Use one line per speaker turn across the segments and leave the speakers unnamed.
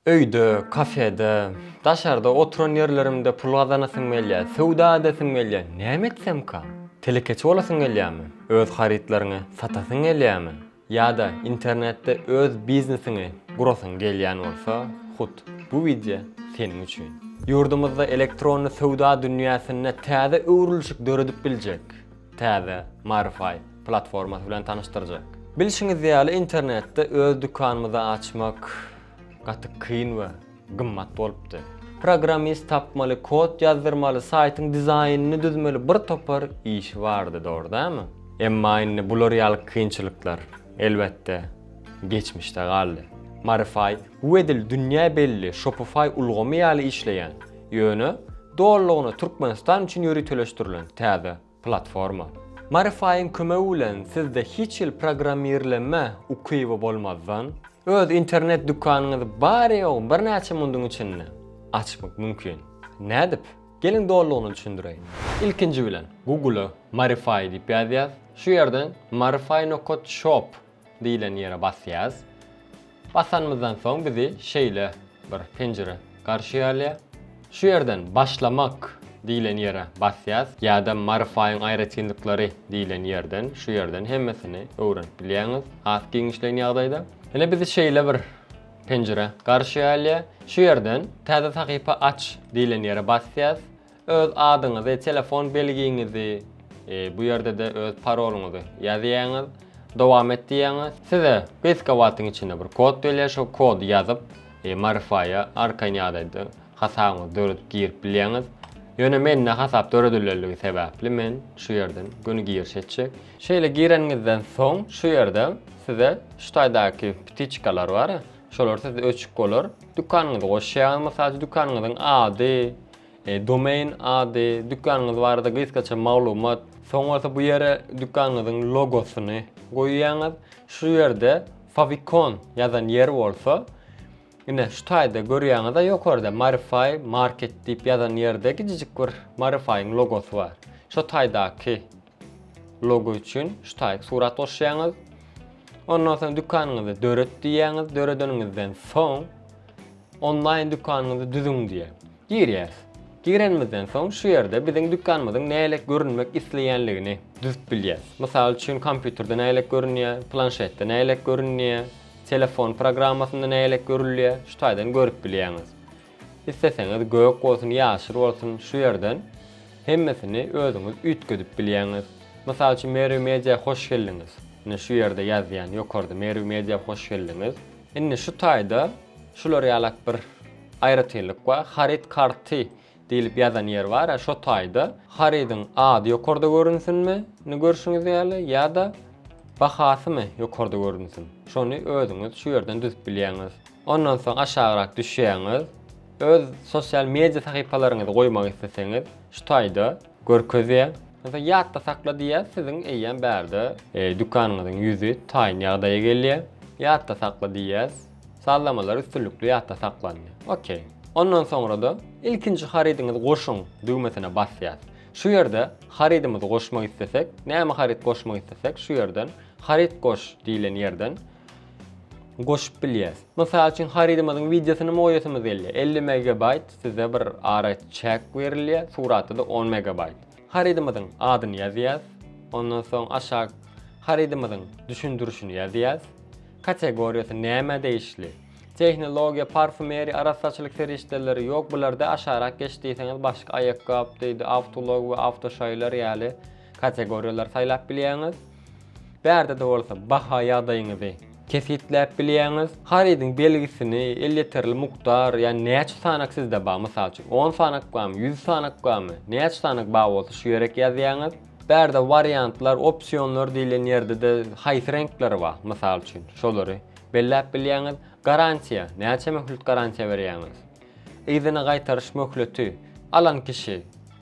Öýde, kafede, daşarda oturan ýerlerimde pul gazanasyň gelýär, söwda edesim gelýär. Näme etsemka? Telekeçi bolasyň gelýärmi? Öz harytlaryňy satasyň gelýärmi? Ýa-da internetde öz biznesiňi gurasyň gelýän bolsa, hut bu wideo seniň üçin. Ýurdumyzda elektronly söwda dünýäsinde täze öwrülişik döredip biljek täze Marify platformasy bilen tanyşdyrjak. Bilşiňiz ýaly, internetde öz dükanymyzy açmak gaty kyn we gymmat bolupdy. Programmist tapmaly, kod ýazdyrmaly, saýtyň dizaýnyny düzmeli bir topar işi bardy, dogry dälmi? Emma indi bular ýaly kynçylyklar, elbetde, geçmişde galdy. Marify bu edil dünýä belli Shopify ulgamy ýaly işleýän, Ýöne dolulygyna Türkmenistan üçin ýöriteleşdirilen täze platforma. Marify-yň kömegi bilen sizde hiç hili programmirlenme ukyby bolmazdan, öz internet dükanyňyzy bary-ýogy birnäçe munduň içinde açmak mümkin. Nädip? Geliň dolulygyna düşündireýin. Ilkinji bilen Google-a Marify diýip ýazýas. Şu ýerden marify nokat shop diýlen ýere basýas. Basanymyzdan soň bizi şeýle bir penjire garşy alýar. Şu ýerden Başlamak diýlen ýere basýas ýa-da Marifyň aýratynlyklary diýlen ýerden şu ýerden hemmesini öwrenip bilýäňiz has giňişleýin ýagdaýda. Ine bizi şeýle bir penjire garşy alýar. Şu ýerden Täze sahypa aç diýlen ýere basýas. Öz adyňyzy, telefon belgiňizi, bu ýerde-de öz parolyňyzy ýazýaňyz, dowam et diýýäňiz. Size gysga wagtyň içinde bir kod berýär, şo kody ýazyp, Marify-a arkaýyn ýagdaýda hasabyňyzy döredip girip bilýäňiz. Ýöne mende hasap döredilenligi sebäpli men şu ýerden göni giriş etjek. Şeýle gireniňizden soň şu ýerde size şu taýdaky ptiçkalar bar, şolar sizde öçük bolar. Dükanyňyzy goşýaňyz, mysal üçin dükanyňyzyň ady, Domain ady, dükanyňyz barada gysgaça maglumat, soň bolsa bu ýere dükanyňyzyň logosyny goýýaňyz. Şu ýerde Favicon ýazan ýer bolsa, ine şu taýda görýäňiz-a ýokarda Marify Market diýip ýazan ýerde gijijik bir Marify-yň logosy bar. Şo taýdaky Logo üçin şu taýyp surat goşýaňyz. Ondan soň dükanyňyzy döret diýýäňiz. Döredeniňizden soň onlaýn dükanyňyzy düzüň diýýär. Girýäris. Girenimizden soň şu ýerde biziň dükanymyzyň nälet görünmek isleýänligini düzüp bilýäris. Mysal üçin kompýuterde nälet görünýär, planşetde nälet görünýär, telefon programmasynda nälet görülýär, şu taýdan görüp bilýäňiz. Isleseňiz gök bolsun ýaşyl bolsun şu ýerden hemmesini özüňiz üýtgedip bilýäňiz. Mysal üçin Merw Media hoş geldiňiz. Ine şu ýerde ýazýan ýokarda Merw Media hoş geldiňiz. Indi şu taýda şular ýalak bir aýratynlyk bar. Haryt karty diýlip ýazan ýer bar-a şo taýda harydyň ady ýokarda görünsinmi indi görşüňiz ýaly ýa-da bahasymy ýokarda görünsin. Şony özüňiz şu ýerden düzüp bilýäňiz. Ondan soň aşagrak düşýäňiz. Öz sosial media sahypalaryňyzy goýmak isleseňiz, şu taýda görkezýär. Ondan soň ýatda sakla diýýär, siziň eýýäm bärde dükanyňyzyň ýüzi taýyn ýagdaýa gelýär. Ýatda sakla diýýäs. Sazlamalar üstünlikli ýatda saklandy. Ok. Ondan soňra-da ilkinji harydyňyzy goşuň düwmesine basýas. Şu ýerde harydymyzy goşmak islesek, näme haryt goşmak islesek şu ýerden haryt goş diýlen ýerden goşup bilýäs. Mysal üçin harydymyzyň wideosyny moýasymyz gelýär, elli megabaýt size bir ara çäk berilýär, suratda-da on megabaýt. Harydymyzyň adyny ýazýas, ondan soň aşak harydymyzyň düşündirişini ýazýas, kategoriýasy nämä degişli, tehnologiýa, parfumeriýa, arassaçylyk serişdeleri, ýok bularda aşarak geç diýseňiz başga aýakgap diýdi, awtoulag we awtoşaýlar ýaly, Kategoriýalary saýlap bilýäňiz. Bu ýerde-de bolsa baha ýagdaýyňyzy kesgitläp bilýäňiz. Harydyň belgisini, elýeterli mukdar, ýagny näçe sanak sizde bar, mysal üçin, on sanak barmy, ýüz sanak barmy, näçe sanak bar bolsa şu ýerek ýazýaňyz. Bu ýerde wariantlar, opsionlar diýlen ýerde-de haýsy reňkleri bar, mysal üçin, şolary belläp bilýäňiz. Garantiýa, näçe möhlet garantiýa berýäňiz. Yzyna gaýtaryş möhleti, alan kişi,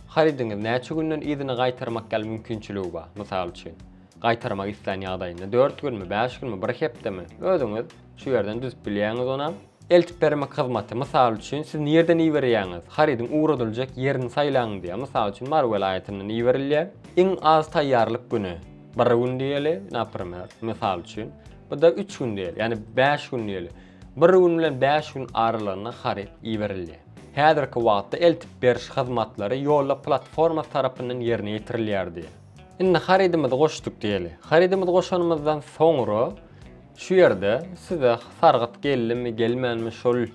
harydyňyzy näçe günden yzyna gaýtarmak ýaly mümkinçiligi bar, mysal üçin, gaýtarmak islän ýagdaýynda dört günmi, bäş günmi, bir hepdemi, özüňiz şu ýerden düzüp bilýäňiz onam. Eltip bermek hyzmaty, mysal üçin, siz nirden iberýäňiz, harydyň ugradyljak ýerini saýlaň diýýär, mysal üçin, Mary welaýatyndan iberilýär, iň az taýýarlyk güni bir gün diýeli, naprimer, mysal üçin, bu-da üç gün diýeli, ýagny bäş gün diýeli. Bir gün bilen bäş gün aralygynda haryt iberilýär. Häzirki wagtda eltip beriş hyzmatlary ýolda platforma tarapyndan ýerine ýetirilýär diýýär. Indi harydymyzy goşduk diýeli. Harydymyzy goşanymyzdan soňra şu ýerde size sargyt geldimi, gelmänmi şol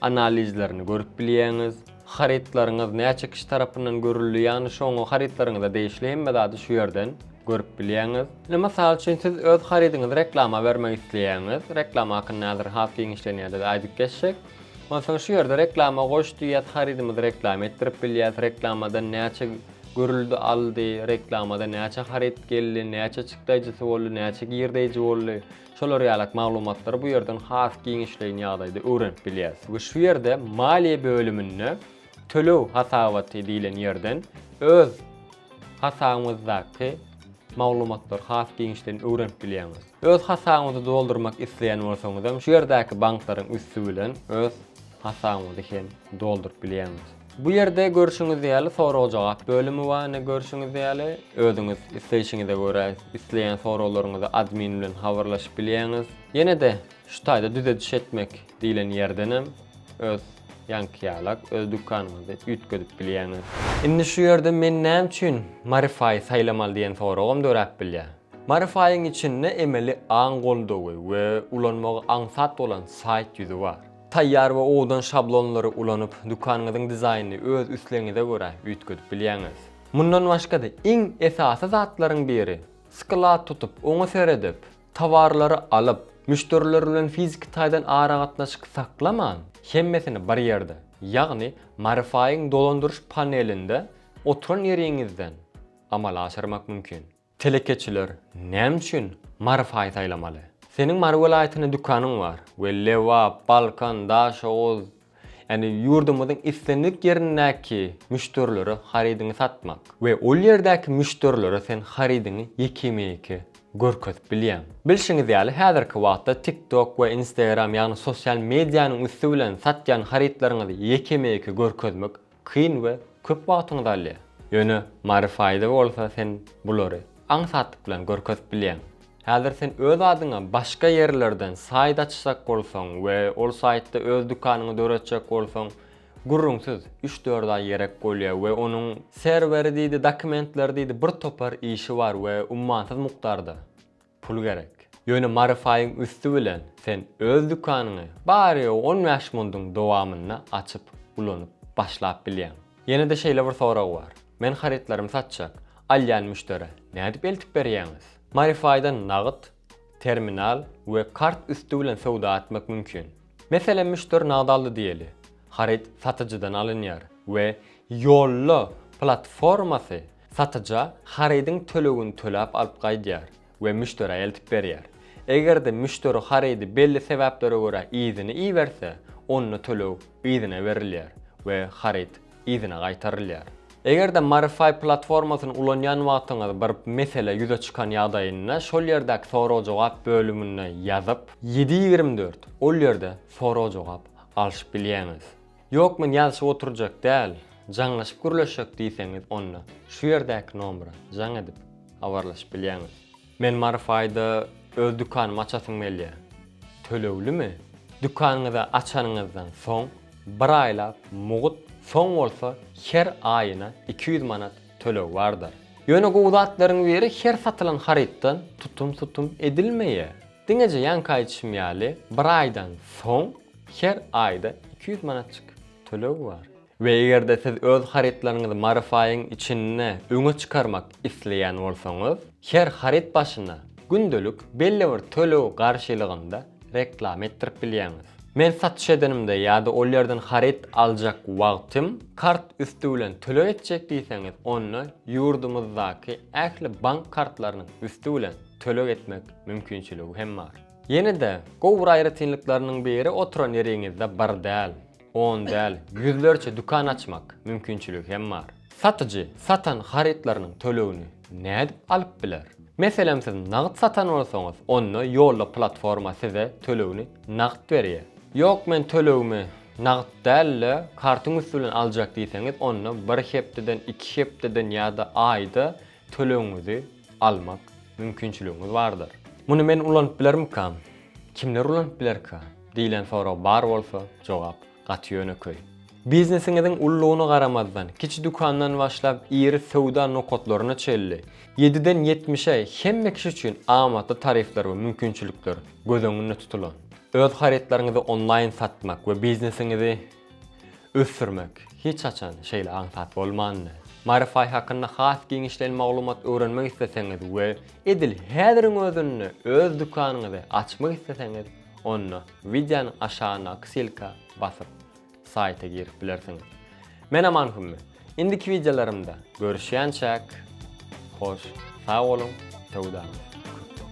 analizlerini görüp bilýäňiz. Harytlaryňyz näçe kişi tarapyndan görüldi ýagny şoňa harytlaryňyza degişli hemme zady şu ýerden görüp bilýäňiz. Indi mysal üçin siz öz harydyňyzy reklama bermek isleýäňiz. Reklama hakynda häzir has giňişlenýär biz aýdyp geçjek. Onsoň şu ýerde reklama goş diýýäs harydymyzy reklama etdirip bilýäs reklamadan näçe görüldi aldy reklamada näçe haryt geldi näçe çykdaýjysy boldy näçe girdeýji boldy Şolar ýalak maglumatlary bu ýerden has giňişleýin ýagdaýda öwrenip bilýäris. We şu ýerde maliýe bölüminde töleg hasabaty diýlen ýerden öz hasabyňyzdaky maglumatlary has giňişleýin öwrenip bilýäňiz. Öz hasabyňyzy doldurmak isleýän bolsaňyzam şu ýerdäki banklaryň üsti bilen öz hasabyňyzy hem dolduryp bilýäňiz. Bu ýerde görşüňiz ýaly sorag-jogap bölümi bar, ine görşüňiz ýaly. Özüňiz isleýşiňize görä isleýän soraglaryňyzy admin bilen habarlaşyp bilýäňiz. Ýene-de şu taýda düzediş etmek diýlen ýerdenem öz ýaňky ýalak öz dükanyňyzy üýtgedip bilýäňiz. Indi şu ýerde men näme üçin Marify saýlamaly diýen soragam döräp bilýär. Marify-yň içinde emeli aň goldawy we ulanmagy aňsat bolan saýt ýüzi bar. Taýýar we owdan şablonlary ulanyp, dükanyňyzyň dizaýnyny öz islegiňize görä üýtgedip bilýäňiz. Mundan başga-da, iň esasy zatlaryň biri, sklad tutup, oňa seredip, towarlary alyp, müşderiler bilen fiziki taýdan aragatnaşyk saklaman, hemmesini bir ýerde, ýagny Marify-yň dolandyryş panelinde oturan ýeriňizden amala aşyrmak mümkin. Telekeçiler näme üçin Mary paý saýlamaly? Seniň Mary welaýatynda dükanyň bar we Lebap, Balkan, Daşoguz, ýagny ýurdumyzyň islendik ýerindäki müşderilere harydyňy satmak we ol ýerdäki müşderilere sen harydyňy ýekeme-ýeke görkezip bilýäň. Bilşiňiz ýaly, häzirki wagtda TikTok we Instagram, ýagny sosial medianyň üsti bilen satýan harytlaryňyzy ýekeme-ýeke görkezmek Kyn we köp wagtyňyzy alýar. Ýöne Mary Faýza bolsa sen bulary aňsatlyk bilen görkezip bilýäň. Häzir sen öz adyňa başga ýerlerden saýt açjak bolsaň we ol saýtda öz dükanyňy döretjek bolsaň, gürrüňsiz üç-dört aý gerek bolýar we onuň serweri diýdi, dokumentleri diýdi birtopar işi bar we ummansyz mukdarda. Pul gerek. Ýöne maryfaýyň üsti bilen sen öz dükanyňy bary-ýogy on bäş mundyň dowamynda açyp ulanyp başlap bilýäň. Ýene-de şeýle bir sorag bar. Men harytlarymy satjak, alýan müşderä nädip eltip berýäňiz? Maryfaýdan nagt, terminal we kart üsti bilen söwda etmek mümkin. Meselem müşderi nagt aldy diýeli. Haryt satyjydan alynýar we Ýolla platformasy Satyja harydyň tölegini töläp alyp gaýdýar we müşderä eltip berýär. Eger-de müşderi harydy belli sebäplere görä yzyny iberse, onda töleg yzyna berilýär we haryt yzyna gaýtarylýar. Eger-de Marify platformasyny ulanýan wagtyňyz bir mesele ýüze çykan ýagdaýynda şol ýerdäki sorag-jogap bölümine ýazyp, ýedi ýigrimi dört ol ýerde sorag-jogap alşyp bilýäňiz. Ýok men ýazyşyp oturjak däl, jaňlaşyp gürleşjek diýseňiz onda şu ýerdäki nomera jaň edip habarlaşyp bilýäňiz. Men Maryf aýda öz dükanymy açasym gelýä. Töleglimi? Dükanyňyzy açanyňyzdan soň bir aýlap mugt soň bolsa her aýyna iki ýüz manat töleg bardyr. Ýöne gowy zatlaryň biri her satylan harytdan tutum-tutum edilmeýä. Diňeje ýaňky aýdyşym ýaly bir aýdan soň her aýda iki ýüz manatjyk töleg bar. We eger-de siz öz harytlaryňyzy Maryfaýyň içinde öňe çykarmak isleýän bolsaňyz, her haryt başyna gündelik belli bir töleg garşylygynda reklama etdirip bilýäňiz. Men satyş edenimde ýa-da ol ýerden haryt aljak wagtym kart üsti bilen töleg etjek diýseňiz onda ýurdumyzdaky ähli bank kartlarynyň üsti bilen, töleg etmek mümkinçiligi hem bar. Ýene-de gowy bir aýratynlyklarynyň biri oturan ýeriňizde bir däl, on däl, ýüzlerçe dükan açmak mümkinçiligi hem bar. Satyjy satan harytlarynyň tölegini nädip alyp biler? Meselem siz nagt satan bolsaňyz onda ýolda platforma size tölegini nagt berýär. Ýok men tölegimi nagt däl-de kartyň üsti bilen aljak diýseňiz onda bir hepdeden, iki hepdeden ýa-da aýda tölegiňizi almak mümkinçiligiňiz bardyr. Muny men ulanyp bilermikam? Kimler ulanyp bilerkä? diýlen sorag bar bolsa, jogap gaty ýönekeý. Biznesiňiziň ululygyna garamazdan, kiçi dükandan başlap iri söwda nokatlaryna çenli, ýediden ýetmişe hemme kişi üçin amatly tarifler we mümkinçilikler göz öňünde tutulan. Öz harytlaryňyzy onlaýn satmak we biznesiňizi ösdürmek hiç haçan şeýle aňsat bolmandy. Maryfaý hakynda has giňişleýin maglumat öwrenmek isleseňiz we edil häziriň özünde öz dükanyňyzy açmak isleseňiz, onda wideonyň aşagyndaky silka basyp, saýta girip bilersiňiz. Men Aman Hümmi. Indiki wideolarymda görüşýänçäk, hoş sag boluň, söwdaňyz köp bolsun!